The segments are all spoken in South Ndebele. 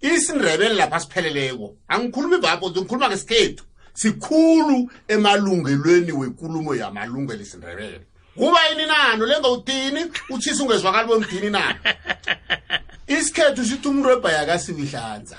isindebele lapha sipheleleko angikhulumi vapho ngikhuluma ngesikhethu sikhulu emalungelweni wenkulumo yamalungelo isindebele kuba yini nano lengawutini utshisa ungezwakali bomdini na isikhethu sithi umuntu webhayakasiwihlanza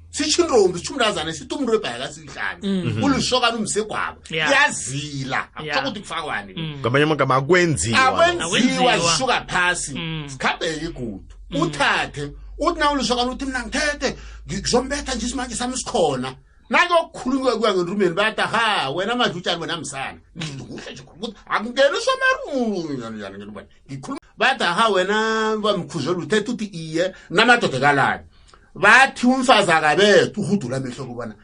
sitsho intombi sitsho umntazane sithi umuntu webhayakasiwihlanza mhm. ulisokana umsegwabo yazila akutho ukuthi kufakwani mm. ngamanye amagama akwenziwa akwenziwa zisuka phasi mm. sikhambeke igudu mm. uthathe uthi nawulusokana uthi mna ngithethe ngizombetha nje isimanje sami sikhona nakuyokukhulunywa kuya ngenrumeni bayata ha wena madlutshani wena msana ngihle nje ukuthi akungeni somarumnyanyangenrumeni ngikhuluma bayata ha wena bamkhuzela uthetha uthi iye namadoda kalani bathi umfazi akabethu uhudula amehlo kubona